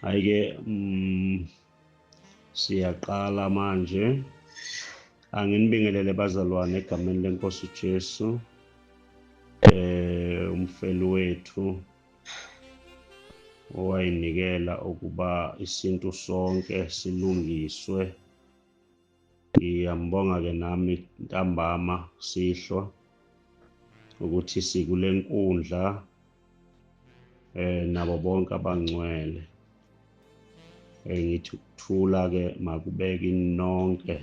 hayi ke mm, siyaqala manje anginibingelele bazalwane egameni lenkosi uJesu eh umfeli wethu owayinikela ukuba isintu sonke silungiswe Ngiyambonga ke nami ntambama sihlwa ukuthi sikule nkundla eh nabo bonke abangcwele eh ngithi ukuthula ke makubeke nonke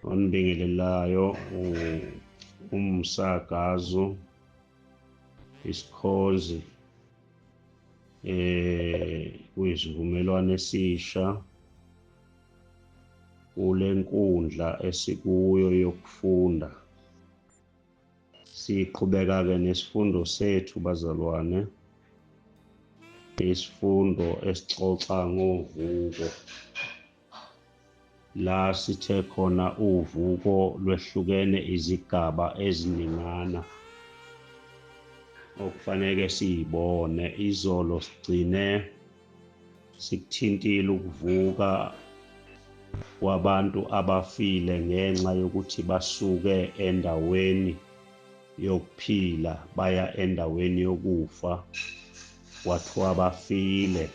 onibingelelayo umsakazo isikhonzi eh kuyisivumelwano esisha kule nkundla esikuyo yokufunda siqhubeka-ke nesifundo sethu bazalwane isifundo esixoxa ngovuko La sithe khona uvuko lwehlukene izigaba eziningana okufanele siyibone izolo sigcine sikuthintile ukuvuka kwabantu abafile ngenxa yokuthi basuke endaweni yokuphila baya endaweni yokufa kwathiwa bafile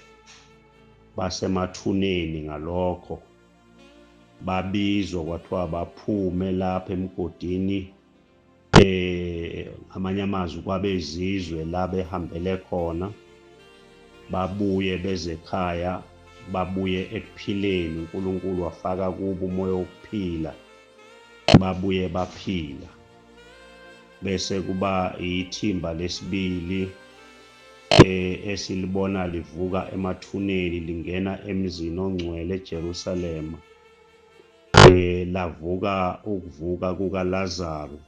basemathuneni ngalokho babizwa kwathiwa baphume lapha emgodini eh amanye amazwi kwabezizwe la behambele khona babuye beze ekhaya babuye ekuphileni uNkulunkulu wafaka kubo umoya wokuphila babuye baphila bese kuba ithimba lesibili eh, esilibona livuka emathuneni lingena emzini ongcwele eJerusalema eh, lavuka ukuvuka kukaLazaru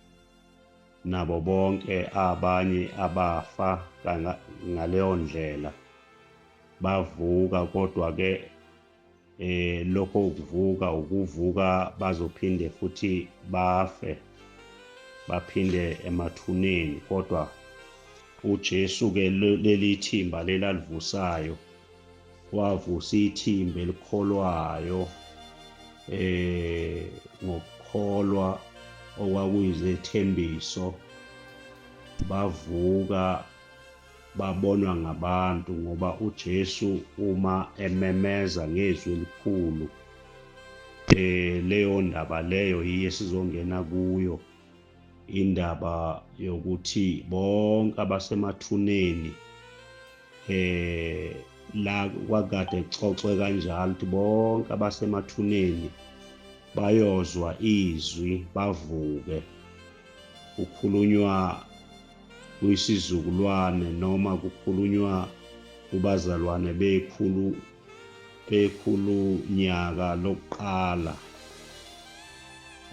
nabo bonke abanye abafa ngaleyo ndlela bavuka kodwa-ke eh lokho ukuvuka ukuvuka bazophinde futhi bafe baphinde emathuneni kodwa uJesu ke leli thimba lelalivusayo wavusa ithimba elikholwayo eh ngokukholwa okwakuyizethembiso bavuka babonwa ngabantu ngoba uJesu uma ememeza ngezwi elikhulu eh leyo ndaba leyo yiye sizongena kuyo indaba yokuthi bonke abasemathuneni eh la kwakade kuxoxwe kanjalo ukuthi bonke abasemathuneni bayozwa izwi bavuke ukhulunywa kuyisizukulwane noma kukhulunywa kubazalwane bekhulu bekhulu nyaka lokuqala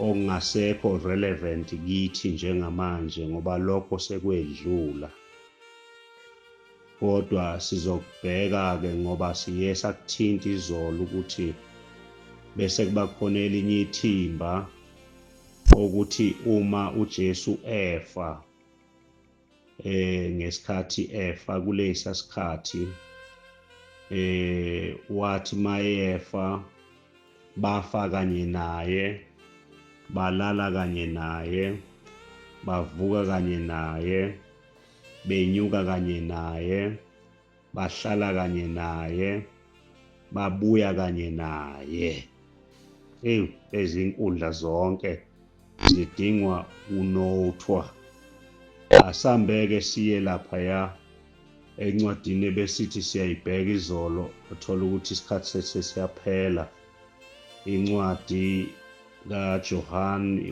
ongasekho relevant kithi njengamanje ngoba lokho sekwedlula kodwa sizokubheka ke ngoba siye sakuthinta izolo ukuthi bese kuba khona elinye ithimba ukuthi uma uJesu efa eh ngesikhathi efa kulesa sikhathi eh wathi mayefa bafa kanye naye balala kanye naye bavuka kanye naye benyuka kanye naye bahlala kanye naye babuya kanye naye eyi ezinkundla zonke zidingwa unothwa asambeke siye lapha ya encwadini ebesithi siyayibheka izolo uthola ukuthi isikhathi sethe siyaphela incwadi kaJohane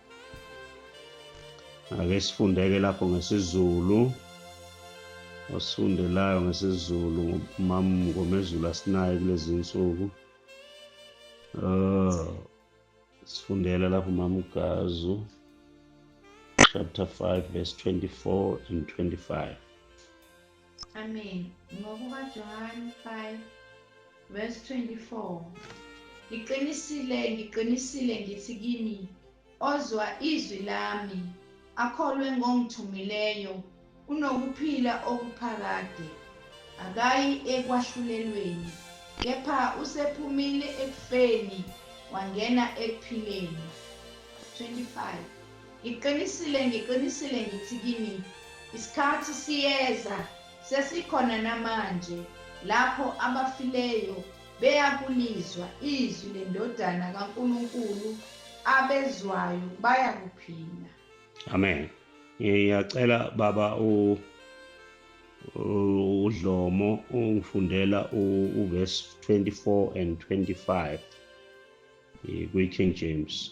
ake sifundeke lapho ngesizulu osifundelayo ngesizulu ngomezulu asinayo kulezi nsuku oh sifundela lapho mamgazu chapter 5 verse 24 and 25 Amen. NgokukaJohane 5 verse 24. Ngiqinisile, ngiqinisile ngithi kini, ozwa izwi lami, akholwe ngongithumileyo, unokuphila okuphakade. Akayi ekwahlulelweni, kepha usephumile ekufeni wangena ekuphileni. 25. Ngiqinisile, ngiqinisile ngithi kini, isikhathi siyeza, sesikhona namanje, lapho abafileyo beyakulizwa izwi leNdodana kaNkulunkulu, abezwayo bayakuphila. Amen. Ngiyacela baba u uDlomo ungifundela uverse 24 and 25 kwi-King James.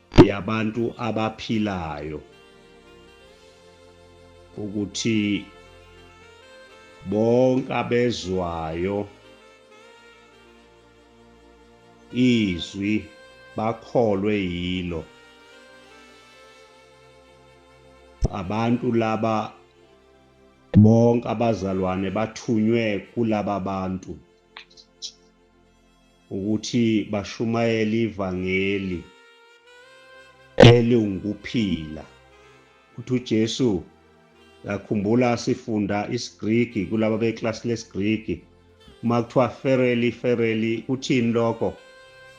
yabantu abaphilayo ukuthi bonke abezwayo izwi bakholwe yilo abantu laba bonke abazalwane bathunywe kulaba bantu ukuthi bashumayele ivangeli eliwukuphila. Uthi uJesu yakhumbula sifunda isiGriki kulaba beklasi lesiGriki uma kuthiwa fereli fereli kuthini lokho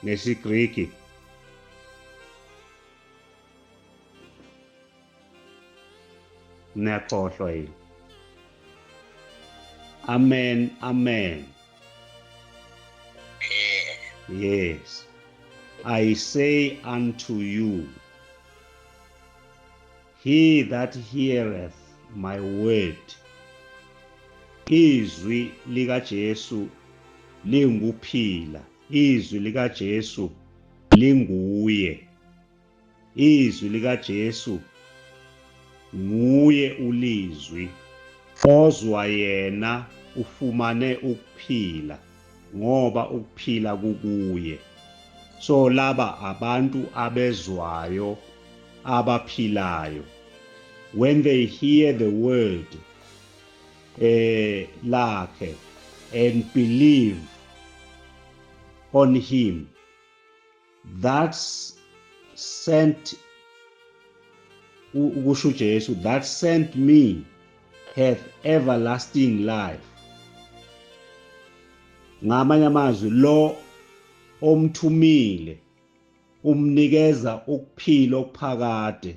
nesiGriki niyakhohlwa yini amen amen yes i say unto you he that heareth my word izwi likaJesu lingukuphila izwi likaJesu linguye Izwi likaJesu nguye ulizwi ozwa yena ufumane ukuphila ngoba ukuphila kukuye so laba abantu abezwayo abaphilayo when they hear the word eh lakhe and believe on him that sent ukusho uJesu that sent me hath everlasting life ngamanye amazwi lo omthumile umnikeza ukuphila okuphakade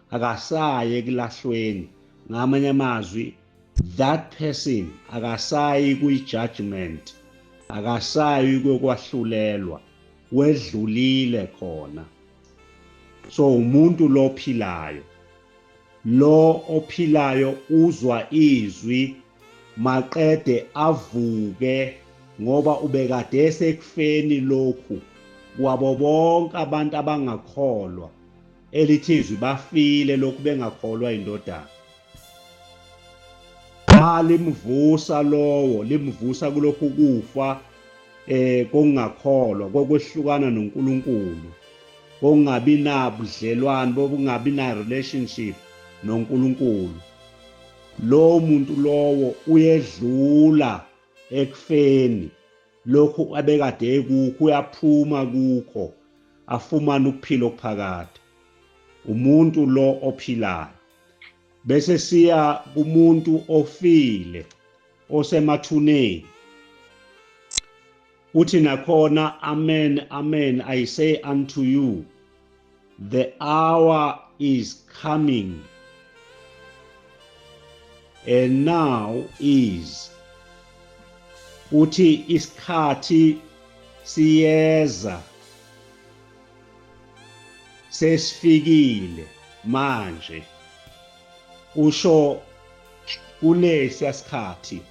akasayi ekulahlweni ngamanye amazwi that person akasayi kwi-judgment akasayi kokwahlulelwa wedlulile khona so umuntu lo ophilayo lo ophilayo uzwa izwi maqede avuke ngoba ubekade esekufeni lokhu kwabo bonke abantu abangakholwa Elithi izwi bafile lokhu bengakholwa indodana. Cha limvusa lowo, limvusa kulokhu kufa eh kokungakholwa, kokwehlukana noNkulunkulu, kokungabi nabudlelwane, bokungabi na relationship noNkulunkulu. Lo muntu lowo uyedlula ekufeni. lokhu abekade ekukho uyaphuma kukho afumane ukuphila okuphakade umuntu lo ophilayo bese siya kumuntu ofile osemathuneni uthi nakhona amen amen i say unto you The hour is coming and now is uthi isikhathi siyeza sesifikile manje usho kulesi sikhathi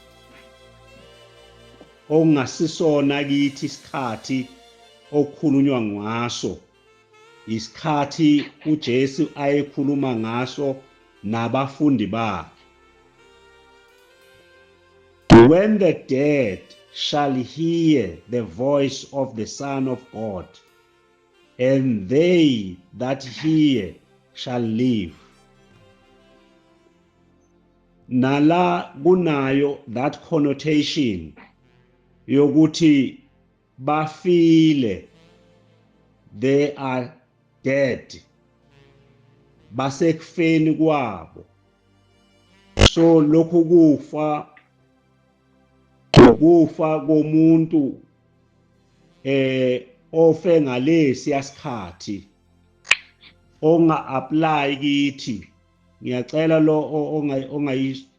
okungasisona kithi isikhathi okukhulunywa ngaso yisikhathi uJesu ayekhuluma ngaso nabafundi bakhe When the dead shall hear the voice of the Son of God and they that hear shall live nala kunayo that connotation yokuthi bafile they are dead basekufeni kwabo so lokhu kufa ukufa komuntu eh ofe ngalesi yasikhathi onga apply kithi ngiyacela lo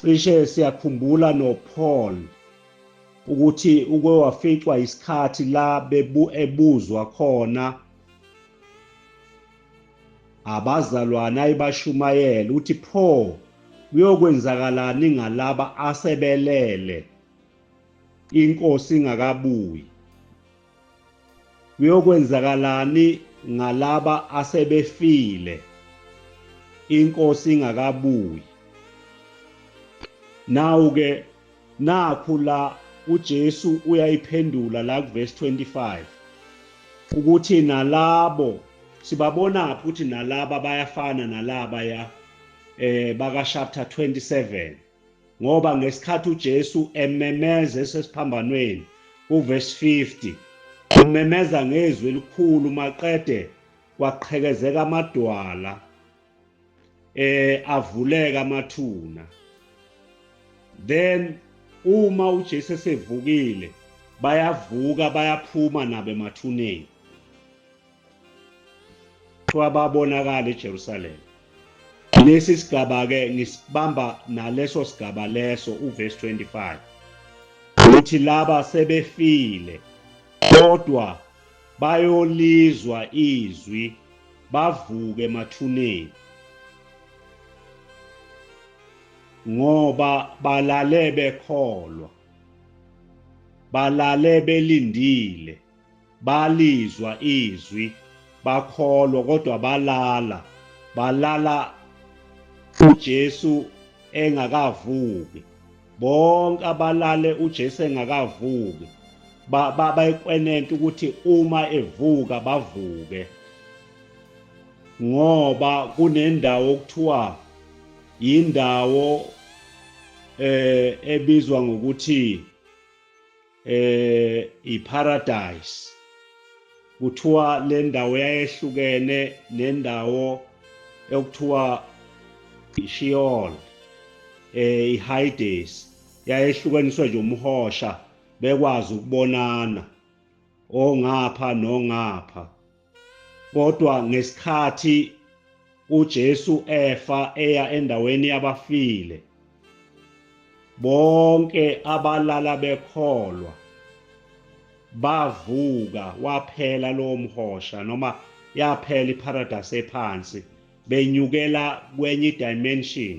Cishe siyakhumbula noPaul ukuthi uke waficwa isikhathi la bebu ebuzwa khona abazalwane ayibashumayela uthi pho kuyokwenzakalani ngalaba asebelele inkosi ingakabuyi Kuyokwenzakalani ngalaba asebefile inkosi ingakabuyi? Nawu ke nakhu la uJesu uyayiphendula la kuverse 25 ukuthi nalabo sibabona phi ukuthi nalaba bayafana nalaba ya eh baka chapter 27 ngoba ngesikhathi uJesu ememeza esesiphambanweni kuvesi 50 umemeza ngezwi elikhulu maqede kwaqhekezeka amadwala eh avuleka amathuna then uma uJesu esevukile bayavuka bayaphuma nabo emathuneni Kuthiwa babonakala eJerusalema. Lesi sigaba-ke ngisibamba naleso sigaba leso uvesi 25 ukuthi laba sebefile kodwa bayolizwa izwi bavuke emathuneni ngoba balale bekholwa balale belindile balizwa izwi bakholwa kodwa balala balala uJesu engakavuki bonke abalale uJesu engakavuki bayikwenenta ukuthi uma evuka bavuke ngoba kunendawo okuthiwa yindawo eh ebizwa ngokuthi eh iparadise kuthiwa le ndawo yayehlukene nendawo ekuthiwa ishiol eh ihaides yayehlukaniswe nje umhosha bekwazi ukubonana ongapha nongapha Kodwa ngesikhathi uJesu efa eya endaweni yabafile, bonke abalala bekholwa bavuka waphela lowo mhosha noma yaphela iparadise ephansi benyukela kwenye idimension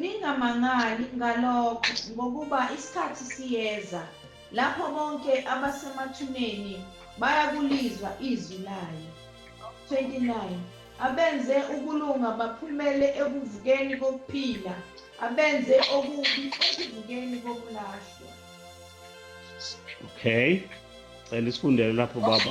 Ningamangali ngalokho, ngokuba isikhathi siyeza lapho bonke abasemathuneni bayakulizwa izwi layo. 29 abenze ukulunga baphumele ekuvukeni kokuphila, abenze okubi ekuvukeni kokulahlwa. Okay. Cela isifundele lapho baba.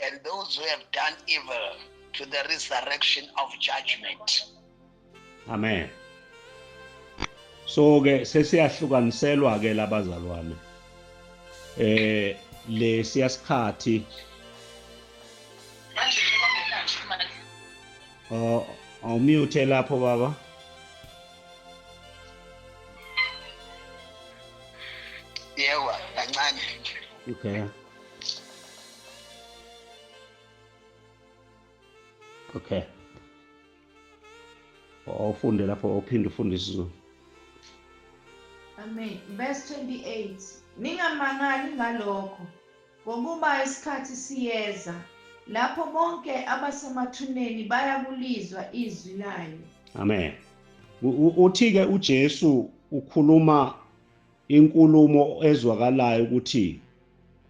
and those who have done evil to the resurrection of judgment. Amen. So ke sesiyahlukaniselwa ke labazalwane. Eh lesiya sikhathi manje Oh, awumute lapho baba. Yebo, kancane. Okay. okay ufunde lapho uphinde ufunde isizulu amen verse 28 ningamangali ngalokho ngokuba isikhathi siyeza lapho bonke abasemathuneni bayakulizwa izwi layo amen uthi-ke ujesu ukhuluma inkulumo ezwakalayo ukuthi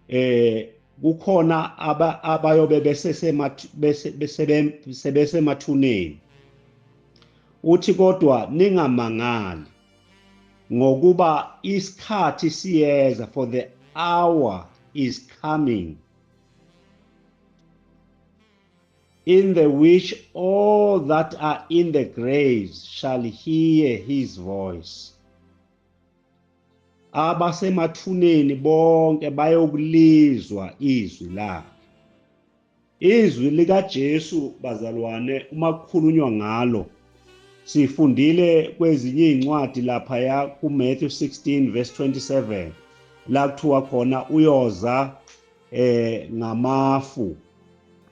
eh kukhona abayobe besesemathuneni uthi kodwa ningamangali ngokuba isikhathi siyeza for the hour is coming in the which all that are in the graves shall hear his voice abasemathuneni bonke bayokulizwa izwi lakhe izwi likaJesu bazalwane uma kukhulunywa ngalo sifundile kwezinye izincwadi lapha ya kuMatthew 16 verse 27 la kuthiwa khona uyoza eh ngamafu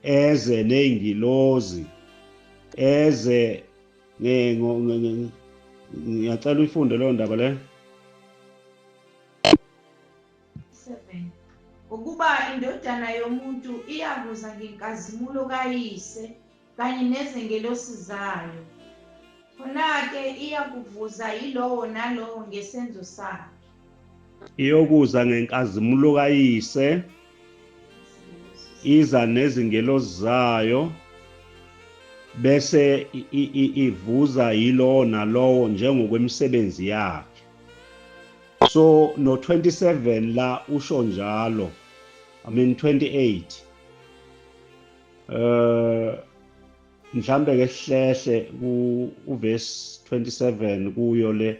eze nezingilozi eze ngiyacela uyifunde leyo ndaba le ukuba indodana yomuntu iyakuza ngenkazimulo kayise kanye nezengelosi zayo khona-ke iyakuvuza yilowo nalowo ngesenzo sakhe iyokuza ngenkazimulo kayise iza nezingelosi zayo bese ivuza yilowo nalowo njengokwemisebenzi yakhe so no 27 la usho njalo i mean 28 eh mhlambe ke sihlehle ku verse 27 kuyo le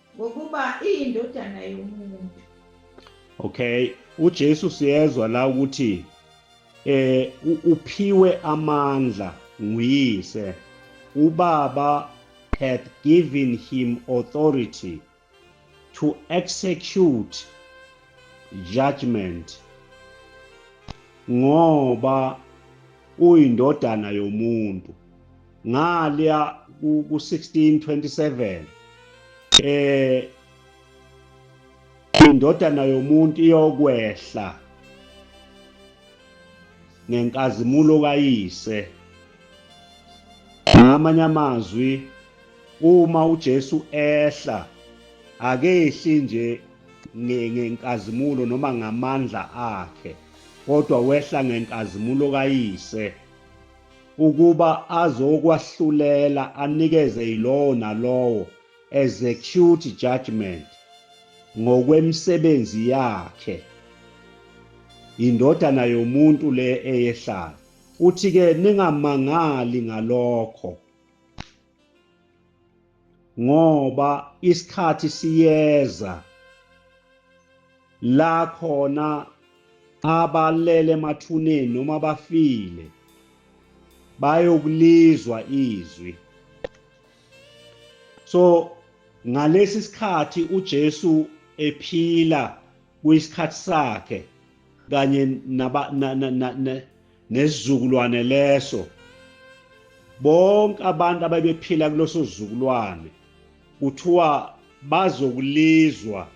ngokuba iyindodana yomuntu okay uJesu siyezwa la ukuthi eh uphiwe amandla nguyise ubaba had given him authority to execute judgment ngoba uyindodana yomuntu ngaliya ku 1627 eh indodana yomuntu iyokwehla ngenkazimulo kayise ngamanye amazwi uma uJesu ehla akehli nje ngenkazimulo noma ngamandla akhe kodwa wehla ngenkazimulo kayise ukuba azokwahlulela anikeze yilowo nalowo execute judgment ngokwemisebenzi yakhe indodana yomuntu le eyehlayo uthi-ke ningamangali ngalokho ngoba isikhathi siyeza la khona abalele emathuneni noma bafile bayokulizwa izwi so ngalesi sikhathi uJesu ephila kuyisikhathi sakhe kanye naba nesizukulwane leso bonke abantu ababephila kuloso zukulwane kuthiwa bazokulizwa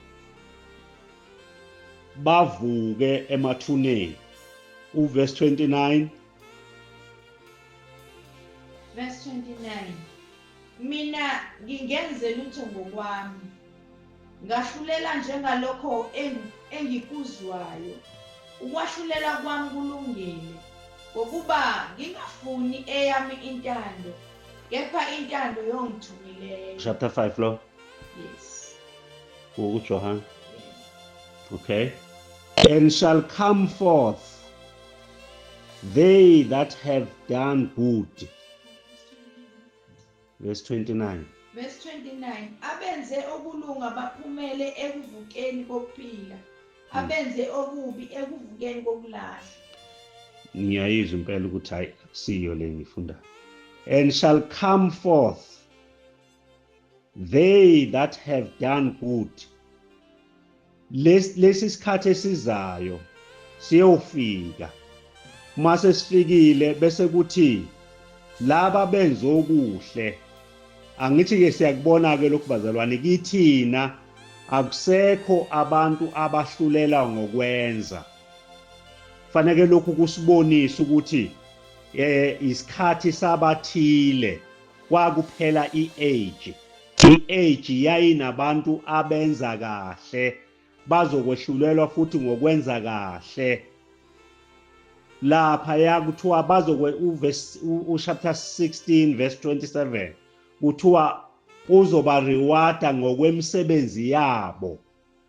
bavuke emathuneni uverse 29 verse 29 Mina ngingenze lutho ngokwami, ngahlulela njengalokho engikuzwayo. Ukwahlulela kwami kulungile, ngokuba ngingafuni eyami intando, kepha intando yongithumileyo. Chapter 5 lo? Yes. UJohane. Okay. And shall come forth they that have done good Verse 29. Verse 29. Abenze okulunga baphumele ekuvukeni kokuphila. Hmm. Abenze okubi ekuvukeni kokulahla. Ngiyayizwa impela ukuthi hayi akusiyo le ngifundayo. And shall come forth they that have done good lesi sikhathi esizayo siyofika uma sesifikile bese kuthi laba benza okuhle angithi-ke siyakubona-ke lokhu bazalwane kithina akusekho abantu abahlulela ngokwenza faneke lokhu kusibonisa ukuthi eh isikhathi sabathile kwakuphela i-age. I-age yayinabantu abenza kahle, bazokwehlulelwa futhi ngokwenza kahle. Lapha yakuthiwa bazokwe uChapter 16 verse 27 kuthiwa uzoba rewarda ngokwemisebenzi yabo.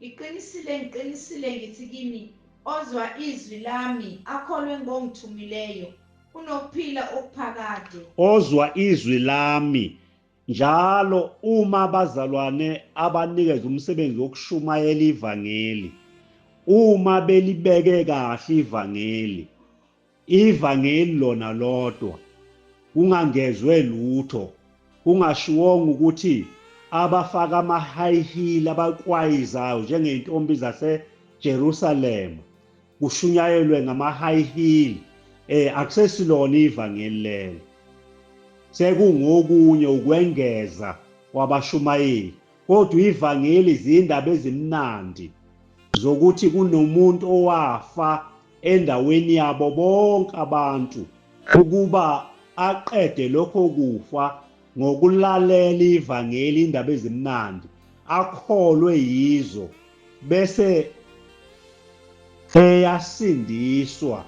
Ngiqinisile, ngiqinisile ngithi kini, ozwa izwi lami, akholwe ngongithumileyo, unokuphila okuphakade. Ozwa izwi lami, njalo uma abazalwane abanikeza umsebenzi wokushumayela ivangeli, uma belibeke kahle ivangeli, IVangeli lona lodwa, kungangezwe lutho, kungashiwongo ukuthi abafaka ama-high heel abakwayizayo njengey'ntombi zaseJerusalema kushunyayelwe ngama-high heel eh akusesilona ivangeli lelo sekungokunye ukwengeza kwabashumayeli Kodwa ivangeli zindaba ezimnandi zokuthi kunomuntu owafa endaweni yabo bonke abantu ukuba aqede lokho kufa ngokulalela ivangeli indaba ezimnandi akholwe yizo bese eyasindiswa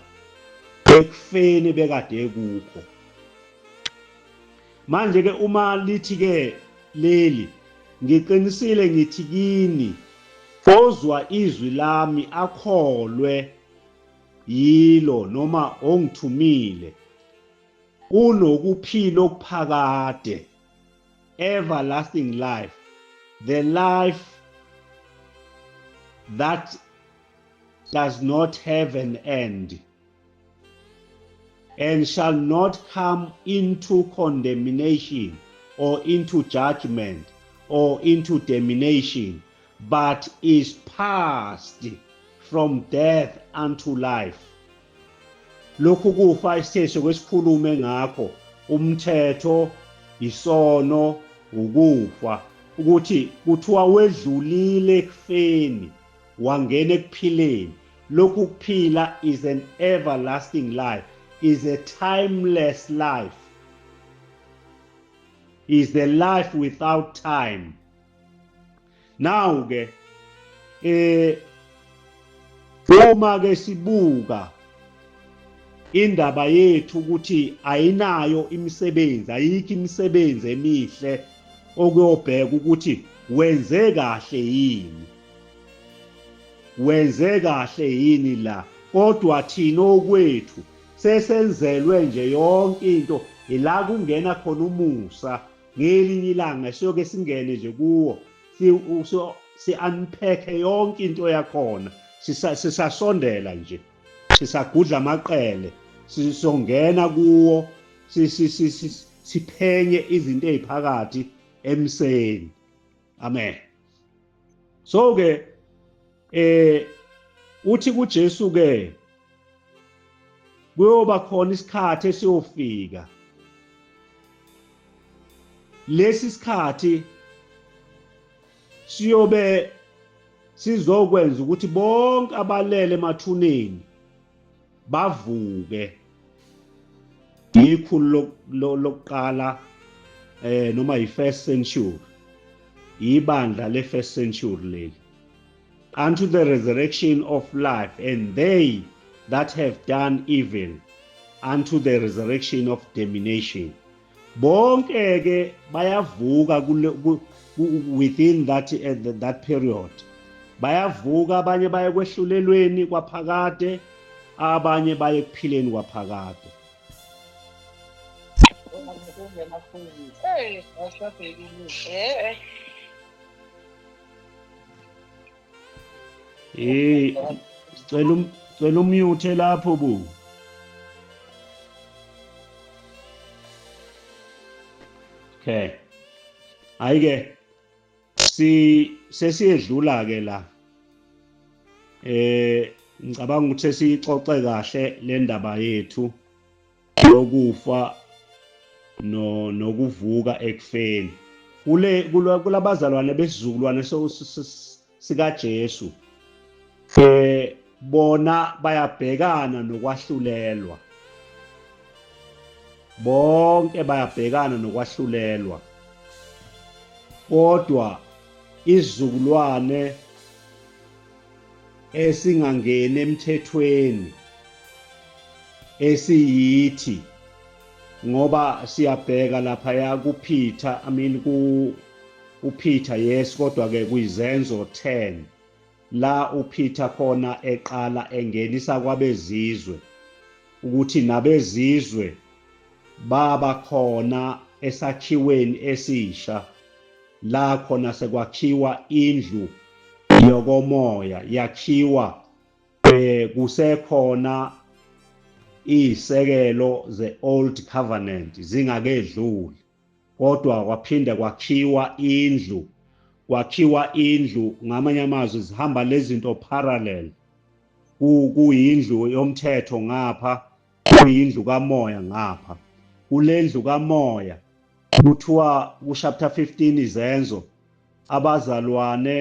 ekufeni bekade kukho Manje ke uma lithi ke leli ngiqinisile ngithi kini ozwa izwi lami akholwe yilo noma ongithumile unokuphila okuphakade everlasting life the life that does not have an end and shall not come into condemnation or into judgment or into damnation, but is passed from death unto life. Lokhu kufa isithetho kwesikhulume ngakho umthetho isono ukufa ukuthi kuthiwa wedlulile ekufeni wangena ekuphileni lokhu kuphila is an everlasting life is a timeless life is the life without time now ke eh uma ke sibuka indaba yethu ukuthi ayinayo imisebenzi ayikho imisebenzi emihle okuyobheka ukuthi wenze kahle yini Wenze kahle yini la kodwa thina okwethu sesenzelwe nje yonke into ila kungena khona umusa ngelinye ilanga siyoke singene nje kuwo si, si, si unpack yonke into yakhona sisasondela sisa nje sisagudla amaqele sizongena kuwo siphenye izinto eziphakathi emseni amen so ke eh uthi kuJesu ke kuyoba khona isikhathi esiyofika lesi sikhathi siyobe sizokwenza ukuthi bonke abalele emathuneni bavuke yikhulu lokuqala eh noma yi-first century yibandla le-first century leli unto the resurrection of life and they that have done evil unto the resurrection of domination bonke ke bayavuka kule within that uh, that period bayavuka abanye baye kwehlulelweni kwaphakade abanye baye kuphileni kwaphakade Hey, what's up, baby? Hey. Hey, cela um cela umute lapho bu. Okay. Ayike si sesiyedlula ke la. Eh ngicabanga ukuthi sesixoxe kahle le ndaba yethu. lokufa no nokuvuka ekufeni kule kulabazalwane besizukulwane sikaJesu eh bona bayabhekana nokwahlulelwa bonke bayabhekana nokwahlulelwa kodwa izizukulwane esingangeni emthethweni esiyithi ngoba siyabheka lapha ya kuPeter i mean ku uPeter yes kodwa ke kuyizenzo 10 la uPeter khona eqala engenisa kwabezizwe ukuthi nabezizwe baba khona esakhiweni esisha La khona sekwakhiwa indlu yokomoya yakhiwa eh kusekhona izisekelo ze-old covenant zingakedluli kodwa kwaphinde kwakhiwa indlu kwakhiwa indlu ngamanye amazwi zihamba lezinto parallel kuyindlu yomthetho ngapha kuyindlu kamoya ngapha kulendlu kamoya kuthiwa ku chapter 15 izenzo abazalwane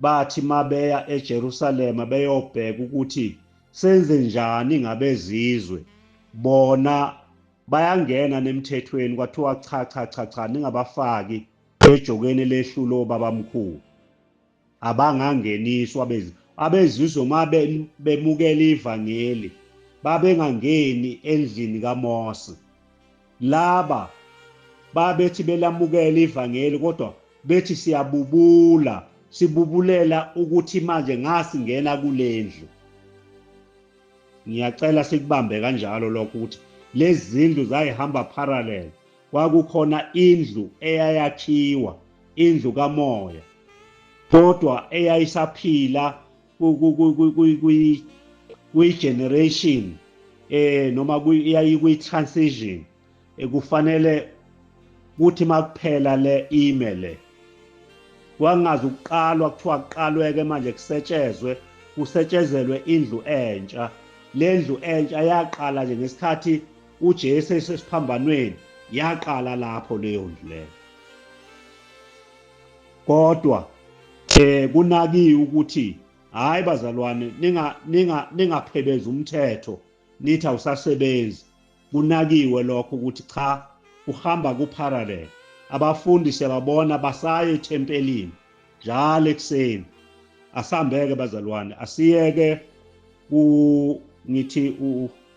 bathi mabeya eJerusalema beyobheka ukuthi senze njani ngabezizwe bona bayangena nemthethweni kwathiwa cha cha cha cha ningabafaki ejokeni lehlulo babamkhulu abangangeniswa abezi abezizwe uma bemukela ivangeli babengangeni endlini kaMose laba babethi belamukela ivangeli kodwa bethi siyabubula sibubulela ukuthi manje ngasingena kulendlu ngiyacela sikubambe kanjalo lokho ukuthi lezi zindlu zayihamba parallel Kwakukhona indlu eyayakhiwa, indlu kamoya, kodwa eyayisaphila kuyi-generation eh noma yayikwi-transition ekufanele kuthi makuphela le ime le kwangazi ukuqalwa kuthiwa kuqalweke manje kusetshezwe kusetshezelwe indlu entsha le ndlu entsha yaqala nje ngesikhathi uJesu esesiphambanweni yaqala lapho leyo ndlu leyo kodwa eh kunakiwe ukuthi hayi bazalwane ninga ninga ningaphebezi umthetho nithi awusasebenzi kunakiwe lokho ukuthi cha uhamba kuparallel abafundi siyababona basaye ethempelini njalo ekuseni asambeke bazalwane asiyeke ku ngithi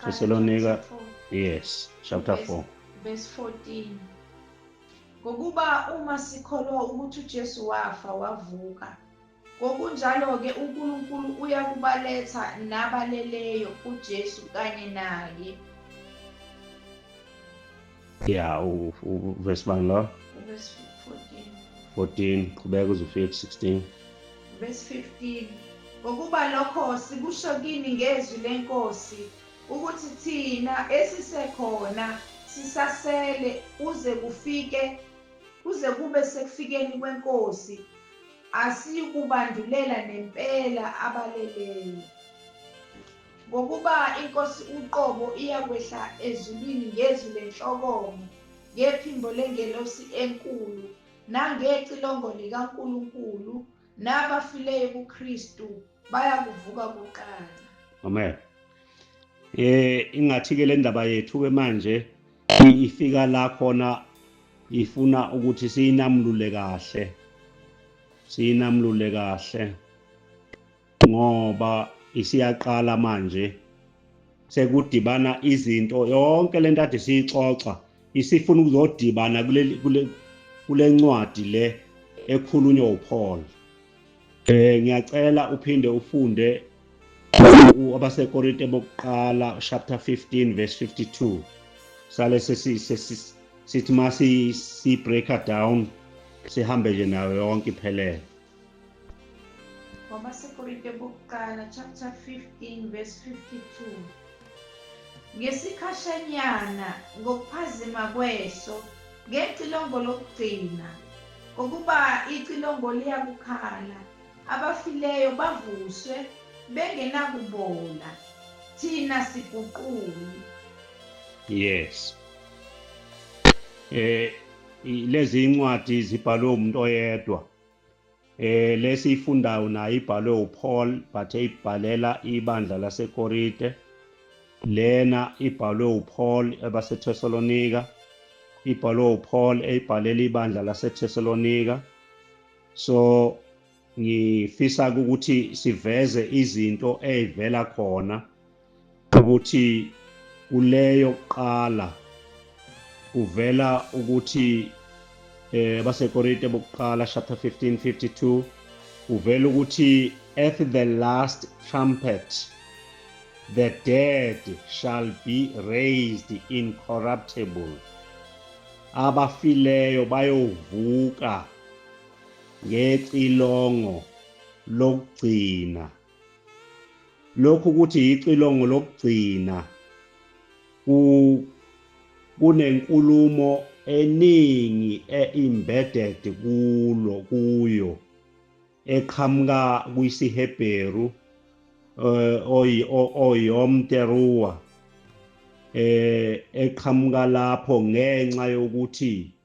Thesalonika yes chapter 4 verse 14 ngokuba uma sikholwa ukuthi uJesu wafa wavuka ngokunjalo-ke uNkulunkulu uyakubaletha nabaleleyo kuJesu kanye naye ya uvesi bani lo 14 qhubeka uze ufike ku-16 vesi 15 ngokuba lokho sikusho kini ngezwi lenkosi ukuthi thina esisekhona sisasele kuze kufike kuze kube sekufikeni kwenkosi asiyikubandulela nempela abaleleyo Ngokuba iNkosi uqobo iyakwehla ezulwini ngezwi lenhlokomo, ngephimbo lengelosi enkulu, nangecilongo likaNkulunkulu, nabafileyo kuKristu bayakuvuka kuqala. Amen. Eh ingathi ke le ndaba yethu ke manje ifika la khona ifuna ukuthi siyinamlule kahle. Siyinamlule kahle. ngoba isiyaqala manje sekudibana izinto yonke lento ade siyixoxa isifuna ukuzodibana kule kule ncwadi le ekhulunywa uPaul eh ngiyacela uphinde ufunde abasekorinte bokuqala chapter 15 verse 52 sale sithi masi si breaker down sihambe nje nayo yonke iphelele wabasikorinte bokuqala chapter 15 verse 52 ngesikhashanyana ngokuphazima kweso ngecilongo lokugcina ngokuba icilongo liyakukhala abafileyo bavuswe bengenakubola thina siguquli yes eh lezi incwadi zibhalwe umuntu oyedwa Eh lesi ifundayo nayo ibhalwe uPaul but eyibhalela ibandla laseKorinte. Lena ibhalwe uPaul ebaseThesalonika. Ibhalwe uPaul eyibhalela ibandla laseThesalonika. So ngifisa ukuthi siveze izinto ezivela khona ukuthi kuleyo kuqala kuvela ukuthi eh baseKorinte bokuqala chapter 15 52 kuvela ukuthi at the last trumpet the dead shall be raised incorruptible abafileyo bayovuka ngecilongo lokugcina Lokhu ukuthi yicilongo lokugcina kunenkulumo eningi e-embedded kulo kuyo eqhamuka kwisiHebheru eh, oyom teruwa eh, eqhamuka lapho ngenxa yokuthi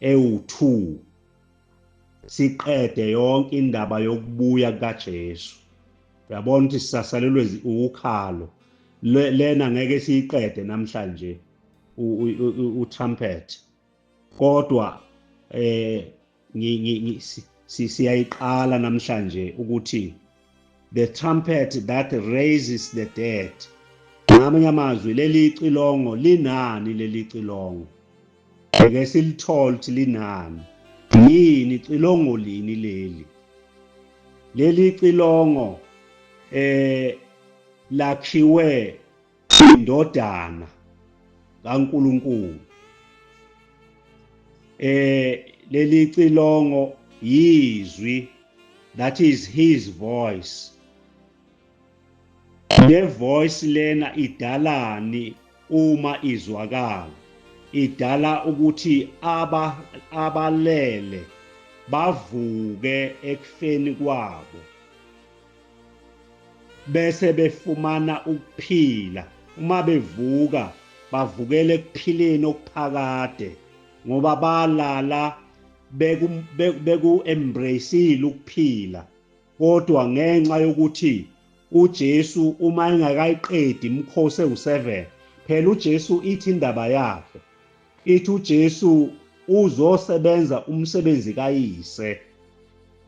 Ewu-2, siqede yonke indaba yokubuya kukaJesu. Uyabona ukuthi sisasalelwe ukhalo. Lena ngeke siyiqede namhlanje utrumpet. Kodwa eh siyayiqala namhlanje ukuthi The trumpet that raises the dead. Ngamanye amazwi leli cilongo linani leli cilongo. Eke silithole ukuthi linani. Yini cilongo lini leli? Leli cilongo eh lakhiwe indodana kaNkulunkulu eh leli cilongo yizwi that is his voice le voice lena idalani uma izwakala idala ukuthi aba abalele bavuke ekufeni kwabo bese befumana ukuphila uma bevuka bavukele ekuphileni okuphakade ngoba balala beku beku embraceile ukuphila kodwa ngenxa yokuthi uJesu uma engakayiqedi imkhosi ewu7 phela uJesu ithi indaba yakhe Ithi uJesu uzosebenza umsebenzi kayise.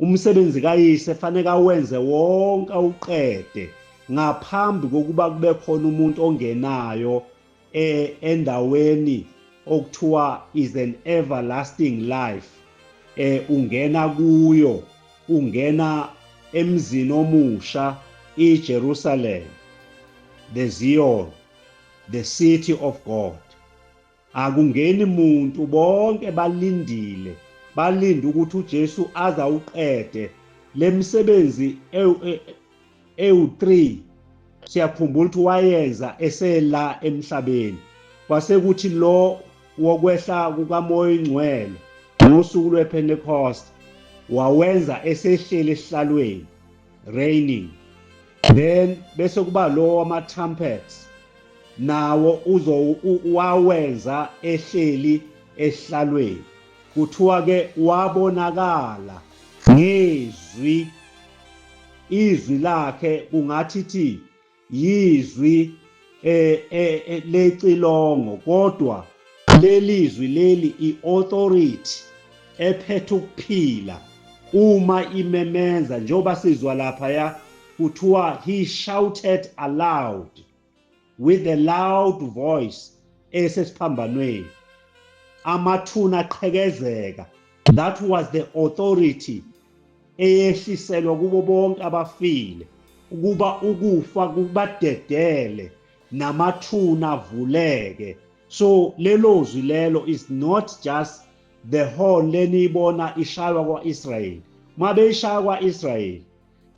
Umsebenzi kayise faneke awenze wonke awuqede ngaphambi kokuba kube khona umuntu ongenayo e, endaweni okuthiwa is an everlasting life eh ungena kuyo ungena emzini omusha iJerusalem the Zion the city of God Akungeni muntu bonke balindile balinde ukuthi uJesu aze awuqede lemisebenzi ewu3 siyakhumbula ukuthi wayenza esela emhlabeni kwasekuthi lo wokwehla kukamoya ingcwele ngosuku lwePentecost wawenza esehlele esihlalweni raining then bese kuba lo wama trumpets nawo uzo wawenza ehleli ehlalweni kuthiwa ke wabonakala ngezwi izwi lakhe kungathi thi yizwi eh, eh, eh lecilongo kodwa lelizwi leli iauthority ephethe ukuphila uma imemenza njengoba sizwa lapha ya kuthiwa he shouted aloud with a loud voice esesiphambanweni amathuna aqhekezeka That was the authority eyehliselwa kubo bonke abafile ukuba ukufa kubadedele namathuna avuleke so lelo zwi lelo is not just the horn leniyibona ishaywa kwa-israyeli uma beyishaya kwa-israyeli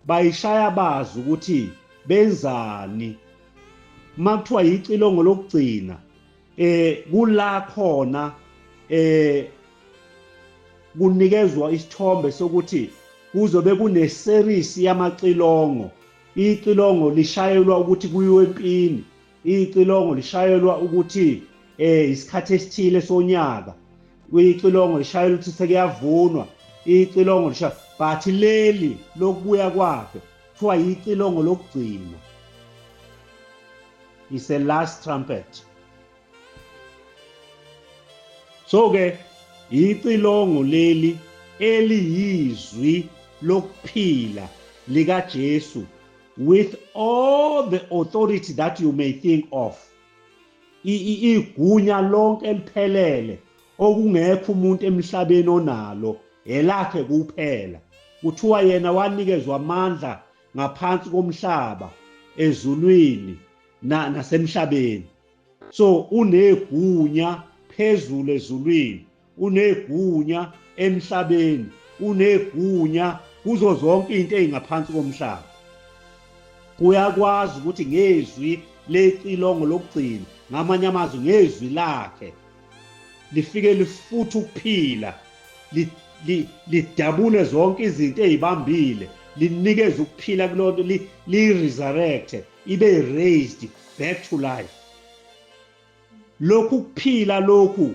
bayishaya bazi ukuthi benzani uma kuthiwa yicilongo lokugcina eh kula khona eh kunikezwa isithombe sokuthi kuzobe kuneseries yamacilongo icilongo lishayelwa ukuthi kuyiwe empini Icilongo lishayelwa ukuthi eh isikhathi esithile sonyaka. Icilongo lishayelwa ukuthi sekuyavunwa. Icilongo lisha but leli lokubuya kwakhe kuthiwa yicilongo lokugcina. Is the last trumpet. So ke yicilongo leli eliyizwi lokuphila likaJesu with all the authority that you may think of igunya lonke eliphelele okungekho umuntu emhlabeni onalo elakhe kuphela kuthiwa yena wanikezwa amandla ngaphansi komhlaba ezulwini nasemhlabeni so unegunya phezulu ezulwini unegunya emhlabeni unegunya kuzo zonke into ezingaphansi komhlaba uyakwazi ukuthi ngezwi lecilongo lokugcina ngamanye amazwi ngezwi lakhe lifike lifutha ukuphila lidabule zonke izinto ezibambile linikeza ukuphila kulonto li-resurrecte ibe raised back to life lokhu kuphila lokhu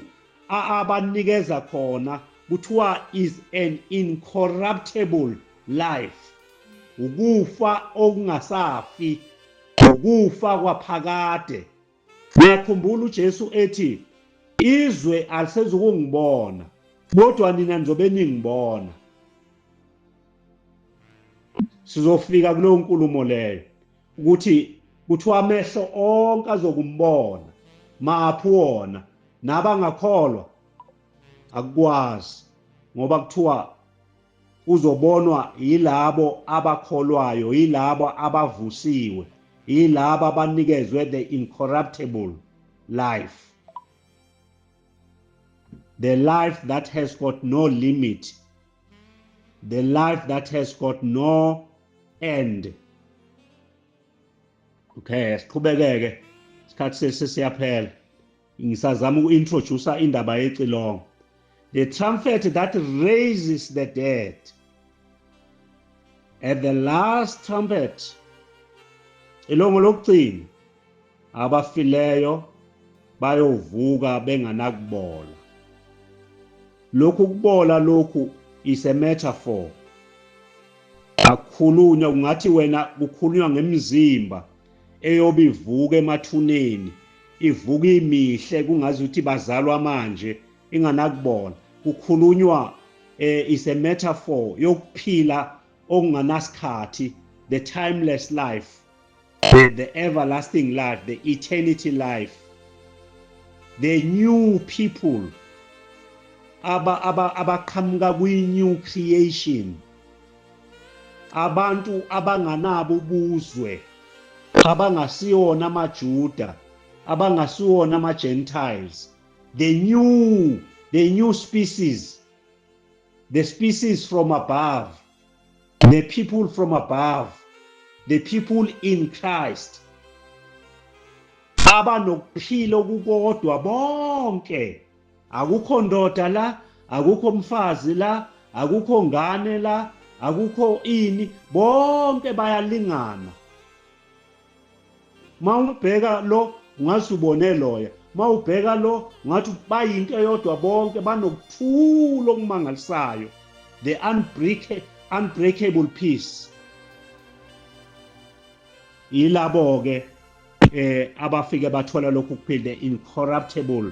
abanikeza khona kuthiwa is an incorruptible life ukufa okungasafi ukufa kwaphakade Niyakhumbula uJesu ethi izwe alisezukungibona kodwa nina nizobe ningibona. Sizofika kuleyo nkulumo leyo ukuthi kuthiwa amehlo onke azokumbona maphi wona nabangakholwa akukwazi ngoba kuthiwa Uzobonwa yilabo abakholwayo, yilabo abavusiwe, yilabo abanikezwe the incorruptible life, the life that has got no limit, the life that has got no end. Okay, siqhubekeke isikhathi sesiyaphela. Ngisazama uku-introducer indaba yecilongo. The trumpet that raises the dead. At the last trumpet, ilongo lokugcina abafileyo bayovuka benganakubola. Lokhu kubola lokhu is a metaphor. Akhulunywa kungathi wena kukhulunywa ngemizimba eyobe ivuka emathuneni ivuka imihle kungazi ukuthi bazalwa manje inganakubona kukhulunywa eh, is a metaphor yokuphila okunganasikhathi the timeless life the, the everlasting life the eternity life the new people aba abaqhamuka aba kwi-new creation abantu abanganabo ubuzwe abangasiyona amaJuda abangasiwona ama-gentiles the new the new species the species from above the people from above the people in christ abanokuphila okukodwa bonke akukho ndoda la akukho mfazi la akukho ngane la akukho ini bonke bayalingana mawubheka lo ungathi ubone loya mawubheka lo ungathi bayinto eyodwa bonke banokuthula okumangalisayo the unbreakable unbreakable peace yilabo ke eh abafike bathola lokhu kuphinde incorruptible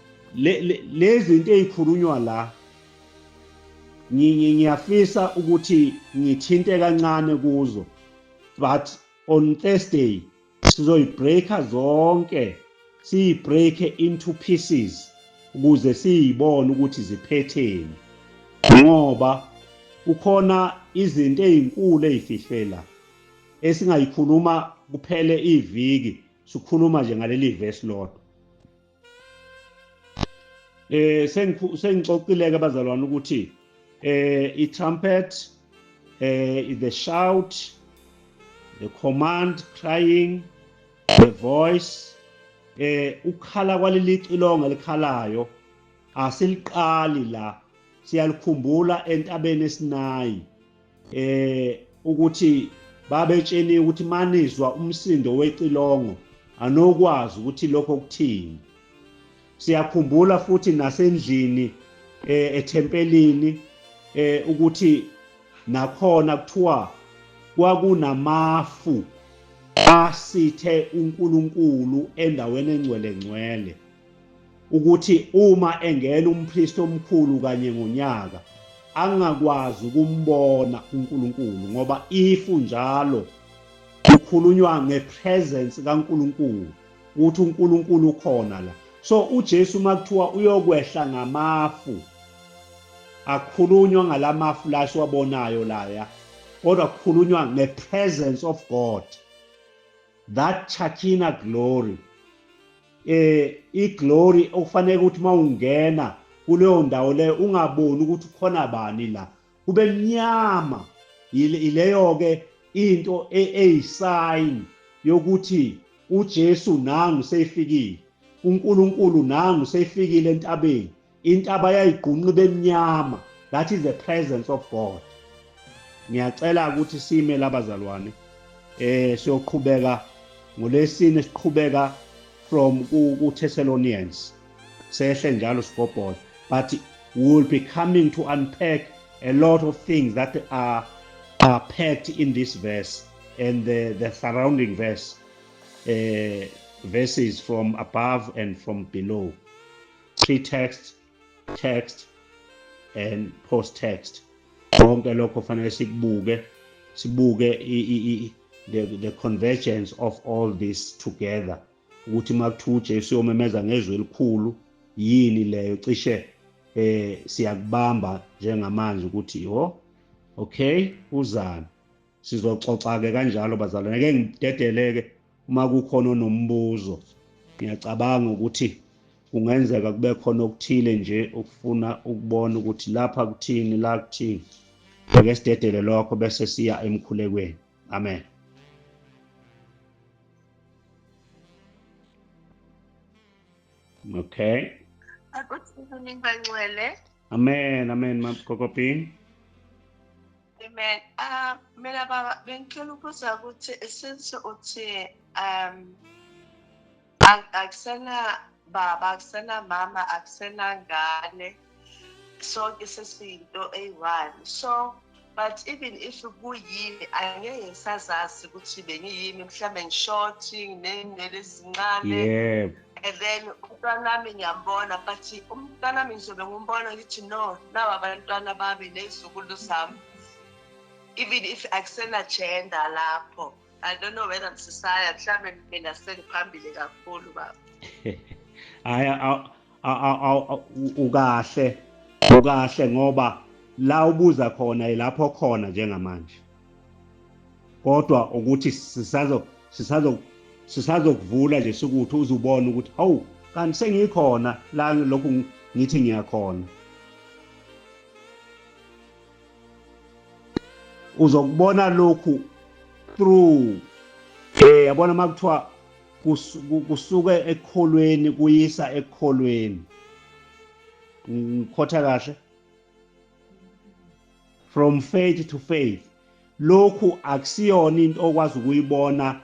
lezi zinto ezikhulunywa la ngiyafisa ukuthi ngithinte kancane kuzo but on Thursday sizoyibreaka zonke siyibreake into pieces ukuze siyibone ukuthi ziphetheni ngoba kukhona izinto ezinkulu ezifihlela esingayikhuluma kuphele iviki sikhuluma nje ngaleli verse lodwa eh sengixoxileke abazalwane ukuthi eh i trumpet eh is the shout the command crying the voice eh ukhala kwaleli cilonga likhalayo asiliqali la siyalikhumbula entabeni esinayi eh ukuthi babetsheni ukuthi manizwa umsindo wecilongo anokwazi ukuthi lokho kuthini siyakhumbula futhi nasendlini eh, ethempelini eh, ukuthi nakhona kuthiwa kwakunamafu asithe uNkulunkulu endaweni engcwele ngcwele ukuthi uma engena umpristi omkhulu kanye ngonyaka angakwazi ukumbona uNkulunkulu ngoba ifu njalo kukhulunywa ngepresence kaNkulunkulu ukuthi uNkulunkulu ukhona la so uJesu makuthiwa uyokwehla ngamafu akhulunywa ngalamafu la siwabonayo laya kodwa kukhulunywa ngepresence of God that Chakina glory eh iglory okufanele ukuthi mawungena kuleyo ndawo leyo ungaboni ukuthi khona bani la kube mnyama ileyo ke into e, eyisign yokuthi uJesu nangu seyifikile uNkulunkulu nangu seyifikile entabeni into abayayigqunqa ibemnyama that is the presence of god ngiyacela ukuthi sime labazalwane eh siyoqhubeka ngolesine siqhubeka from kuThessalonians sehle njalo sigobhola but we will be coming to unpack a lot of things that are are packed in this verse and the the surrounding verse uh, verses from above and from below pre-text text and post text konke lokho fanele sikubuke sibuke the, the convergence of all this together ukuthi makuthiwa uJesu uyomemeza ngezwi elikhulu yini leyo cishe eh siyakubamba njengamanje ukuthi yho okay uzana Sizoxoxa-ke kanjalo bazalwane, ke ngidedeleke uma kukhona onombuzo. Ngiyacabanga ukuthi kungenzeka kube khona okuthile nje okufuna ukubona ukuthi lapha kuthini la kuthini. Ake sidedele lokho bese siya emkhulekweni. Amen. Okay. Akuthi kuningi bangcwele. Amen, amen, Mapkokopini. Amen. Uh, mina baba bengicela ukubuza ukuthi since uthi um akusena baba akusena mama akusena ngane sonke sesiyinto eyi-one so but even if kuyimi angeke ngisazazi ukuthi bengiyimi mhlawumbe ngishothi nginey'nwele ezincane yebo yeah. and then umntanami ngiyambona but umntanami ngizobe ngumbona ngithi no nawa abantwana bami nezukulu zami even if akusena-gender lapho i don't know whether msisaya mhlawumbe mina sengiphambili kakhulu baba hhayi ukahle ukahle ngoba la ubuza khona yilapho khona njengamanje kodwa ukuthi sisazo sisazo sisazokuvula nje sikuthi uzubona ukuthi hawu kanti sengikhona la lokhu ngithi ngiyakhona uzokubona lokhu through eh yabona makuthiwa kusuke ekholweni kuyisa ekholweni ngikhotha kahle from faith to faith lokhu akusiyona into okwazi ukuyibona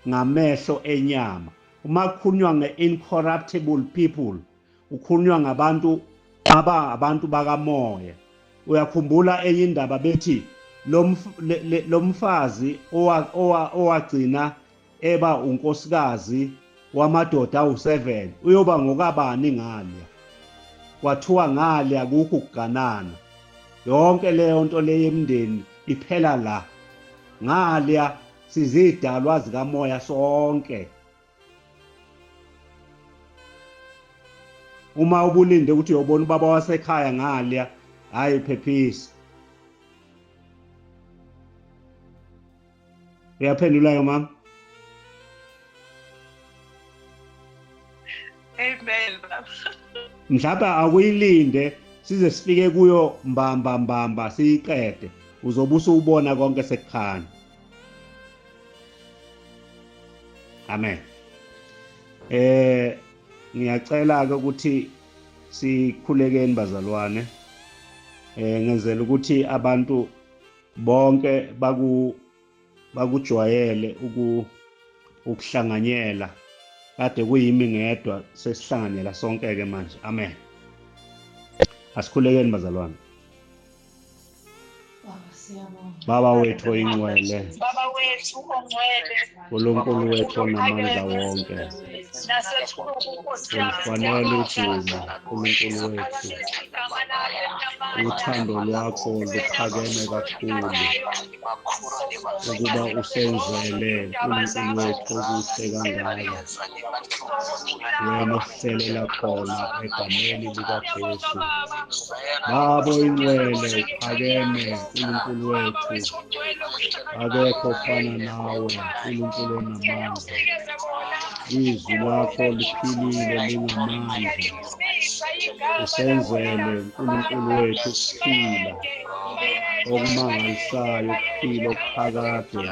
ngamehlo enyama uma kukhulunywa nge-incorruptible people ukhulunywa ngabantu aba abantu bakamoya uyakhumbula enye indaba bethi lo mfazi owagcina eba unkosikazi wamadoda awu-7 uyoba ngokabani ngalya kwathiwa ngalya kukho ukuganana yonke leyo nto leyo emndeni iphela la ngalya sizidalwa zikamoya sonke uma ubulinde ukuthi uyobona ubaba wasekhaya ngalya hhayi phephisa uyaphendulayo mama amen mhlawumbe akuyilinde size sifike kuyo mbamba mbamba siyiqede uzobe usubona konke sekukhanya amen eh ngiyacela ke ukuthi sikhulekeni bazalwane eh ngenzela ukuthi abantu bonke baku bakujwayele uku ukuhlanganyela kade kuyimi ngedwa sesihlanganyela sonke ke manje amen asikhulekeni bazalwane Baba wethu oyingcwele. Baba wethu ongcwele. Nkulunkulu wethu onamandla wonke, ufanele udumo, Nkulunkulu wethu. Uthando lwakho luphakeme kakhulu ukuba usenzele Nkulunkulu wethu okuhle kangaka. ngiyamuhlelela khona egameni likaJesu. Babo ingcwele uphakeme uNkulunkulu wethu, akekho ofana nawe uNkulunkulu onamandla. Izwi lakho liphilile linamandla. usenzele uNkulunkulu wethu ukuphila okumangalisayo ukuphila okuphakade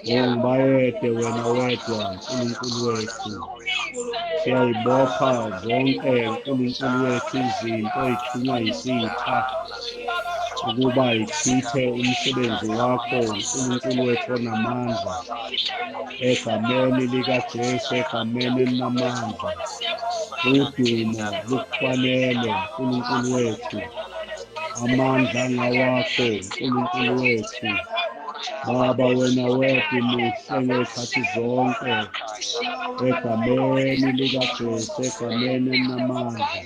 ngongibayede wena wedwa uNkulunkulu wethu siyayibopha zonke uNkulunkulu wethu izinto ezithunywa yisitha ukuba ichithe umsebenzi wakho uNkulunkulu wethu onamandla egameni likaJesu egameni elinamandla udumo lukufanele uNkulunkulu wethu amandla angawakho uNkulunkulu wethu Baba wena wedwa muhle ngezikhathi zonke egameni likaJesu egameni elinamandla